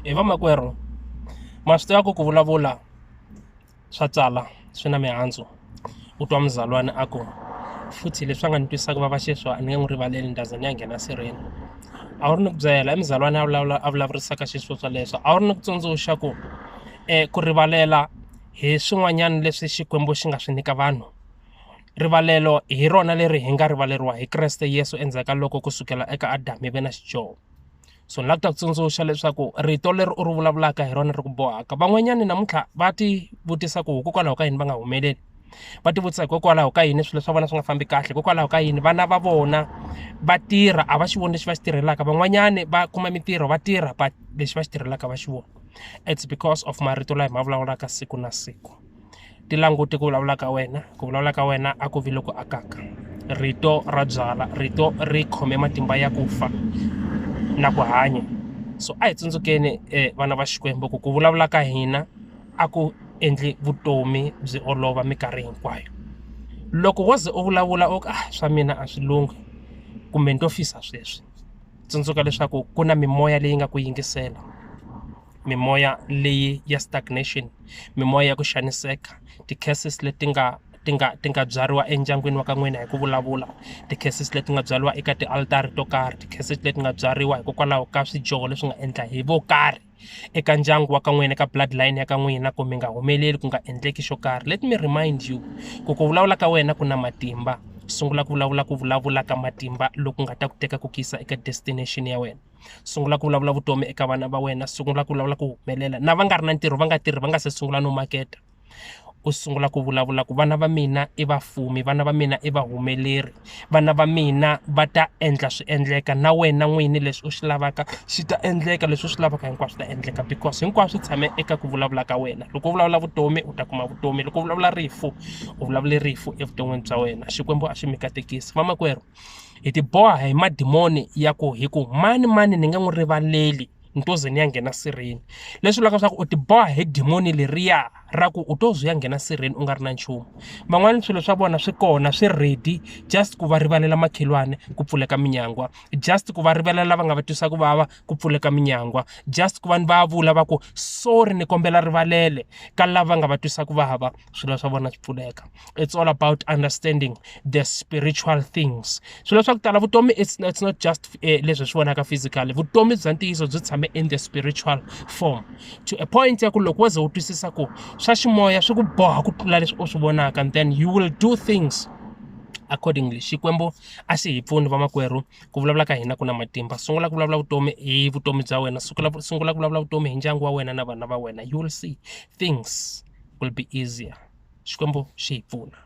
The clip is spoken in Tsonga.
hi vamakwerhu ma swi tiva ku ku vulavula swa tsala swi na mihandzu u twa muzalwana a ku futhi leswi a nga ni twisaka vava xiswa a ni nge n'wi rivaleli ni ta za ni ya nghena sirheni a wu ri ni ku byela i muzalwana a vulavula a vulavurisaka xiswo swa leswo a wu ri ni ku tsundzuxa ku um ku rivalela hi swin'wanyana leswi xikwembu xi nga swi nyika vanhu rivalelo hi rona leri hi nga rivaleriwa hi Kreste Yesu endzhaku ka loko ku sukela eka Adamu ivi na Xijoho so ni lava ku ta ku tsundzuxa leswaku rito leri u ri vulavulaka hi rona ri ku bohaka van'wanyana namuntlha va ti vutisa ku hikokwalaho ka yini va nga humeleli va ti vutisa hikokwalaho ka yini swilo swa vona swi nga fambi kahle hikokwalaho ka yini vana va vona va tirha a va xi voni lexi va xi tirhelaka van'wanyani va kuma mintirho va tirha but lexi va xi tirhelaka va xi vona it's because of marito lawa hi ma vulavulaka siku na siku. ti languti ku vulavula ka wena ku vulavula ka wena a ku vi loku akaka rito ra byala rito ri khome matimba ya ku fa na ku hanya so a hi tsundzukeni um vana va xikwembu ku ku vulavula ka hina a ku endli vutomi byi olova minkarhi hinkwayo loko wo ze u vulavula u ka ah, swa mina a swi lunghi kumbe ni to fisa sweswi tsundzuka leswaku ku na mimoya leyi nga ku yingisela mimoya leyi ya stagnation mimoya ya ku xaniseka ti-curses leti nga ti nga ti nga byariwa endyangwini wa ka n'wina hi ku vulavula ti-curses leti nga byariwa eka tialtara to karhi ti-curses leti nga byariwa hikokwalaho ka swidyoho leswi nga endla hi vo karhi eka ndyangu wa ka n'wina ka blood line ya ka n'wina ku mi nga humeleli ku nga endleki xo karhi let me remind you ku ku vulavula ka wena ku na matimba sungula ku vulavula ku vulavula ka matimba loku nga ta ku teka ku kisa eka destination ya wena sungula ku vulavula vutomi eka vana va wena sungula ku vulavula ku humelela na va nga ri na ntirho va nga tirhi va nga se sungula no maketa u sungula ku vulavula ku vana va mina i vafumi vana va mina i vahumeleri vana va mina va ta endla swi endleka na wena n'wini leswi u swi lavaka swi ta endleka leswi u swi lavaka hinkwaswo swi ta endleka because hinkwaswo swi tshame eka ku vulavula ka wena loko u vulavula vutomi u ta kuma vutomi loko u vulavula rifu u vulavule rifu evuton'wini bya wena xikwembu a xi mi katekisi vamakwerhu hi ti boha hi madimoni ya ku hi ku mani mani ni nge n'wi rivaleli ni to ze ni ya nghena sirheni leswi vulaka leswaku u ti boha hi dimoni leriya ra ku u to ze u ya nghena sirheni u nga ri na nchumu van'wana swilo swa vona swi kona swi ready just ku va rivalela makhelwane ku pfuleka minyangwa just ku va rivalela lava nga va twisa ku vava ku pfuleka minyangwa just ku va ni va vula va ku sorry ni kombela rivalele ka lava nga va twisa ku vava swilo swa vona swi pfuleka it's all about understanding the spiritual things swilo swa ku tala vutomi it's, it's not just eh, leswi swi vonaka physically vutomi bya ntiyiso byi tshame in the spiritual form to a point ya ku loko wo ze u twisisa ku swa ximoya swi ku boha ku tlula leswi u swi vonaka and then you will do things accordingly xikwembu a xi hi pfuni vamakwerhu ku vulavula ka hina ku na matimba sungula ku vulavula vutomi hi vutomi bya wena sungula sungula ku vulavula vutomi hi ndyangu wa wena na vana va wena you will see things will be easier xikwembu xi hi pfuna